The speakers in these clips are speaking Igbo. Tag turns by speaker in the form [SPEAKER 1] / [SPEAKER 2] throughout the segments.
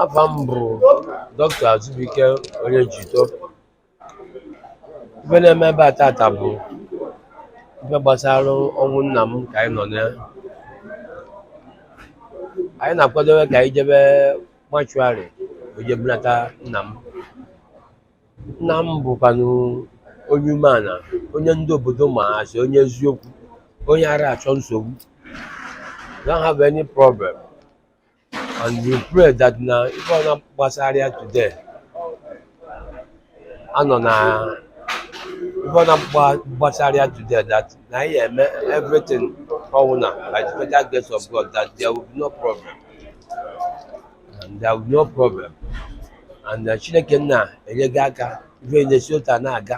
[SPEAKER 1] afa m bụ dọkịta azụbike Onyejito ife na-eme ebe a tata bụ ife gbasara ọnwụ nna m ka anyị nọ na ya anyị na-akwadobe ka anyị jebe mortuary je bunata nna m nna m bụkwanụ onye umeala onye ndị obodo ma as onye eziokwu onye ara achọ nsogbu don't have any problem and we pray that na ife ọna gbasara ya today anọ na ife ọna gbasara ya today that na anyị eme everything ọwụna by the special grace of God that there will be no problem and there will be no problem and uh, Chineke nna enye gị aka ife na-esi otu a na-aga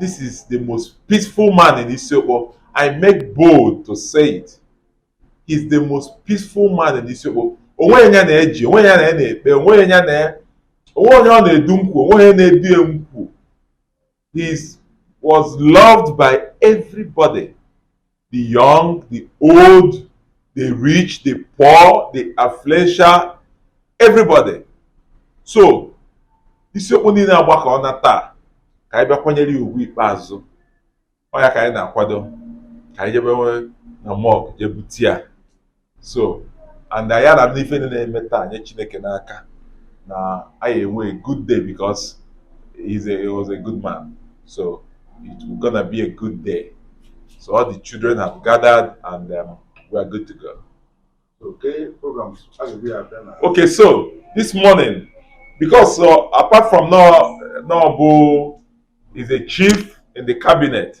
[SPEAKER 1] This is the most peaceful man in Isiokpo. I make bold to say it. He's the most peaceful man in Isiokpo. O nweghị onye ọ na-eji, o nweghị onye ọ na-ekpe, o nweghị onye, o nweghị onye ọ na-edu nkwu, o nweghị onye ọ na-edu nkwu. He was loved by everybody. the young, the old, the rich, the poor, the affluential, everybody. So, Isiokpo niile agbakọna taa ka anyị bịa kwanyere ya ugwu ikpeazụ ọ ya ka anyị na-akwado ka anyị jebe na morgue je bute ya so and anyị ara n'ife niile na-eme taa nye chineke n'aka na anyị enwe a good day because he's a, he was a good man so it will gonna be a good day so all the children have gathered and um, we are good to go okay program okay so this morning because so uh, apart from no no is a chief in the cabinet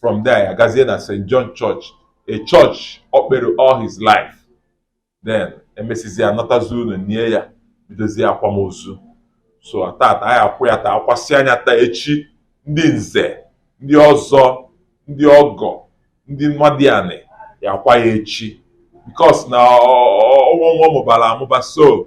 [SPEAKER 1] from there ya gazie na St John Church a church ọ kpere all his life then e mesizie a natazie ụnọ nie ya bidozie akwamozu so tata anyị akwa ya taa akwasịa ya taa echi ndị nze ndị ọzọ ndị ọgọ ndị nwadianị ya-akwa ya echi because na ọnwa nwa mụbara amụba so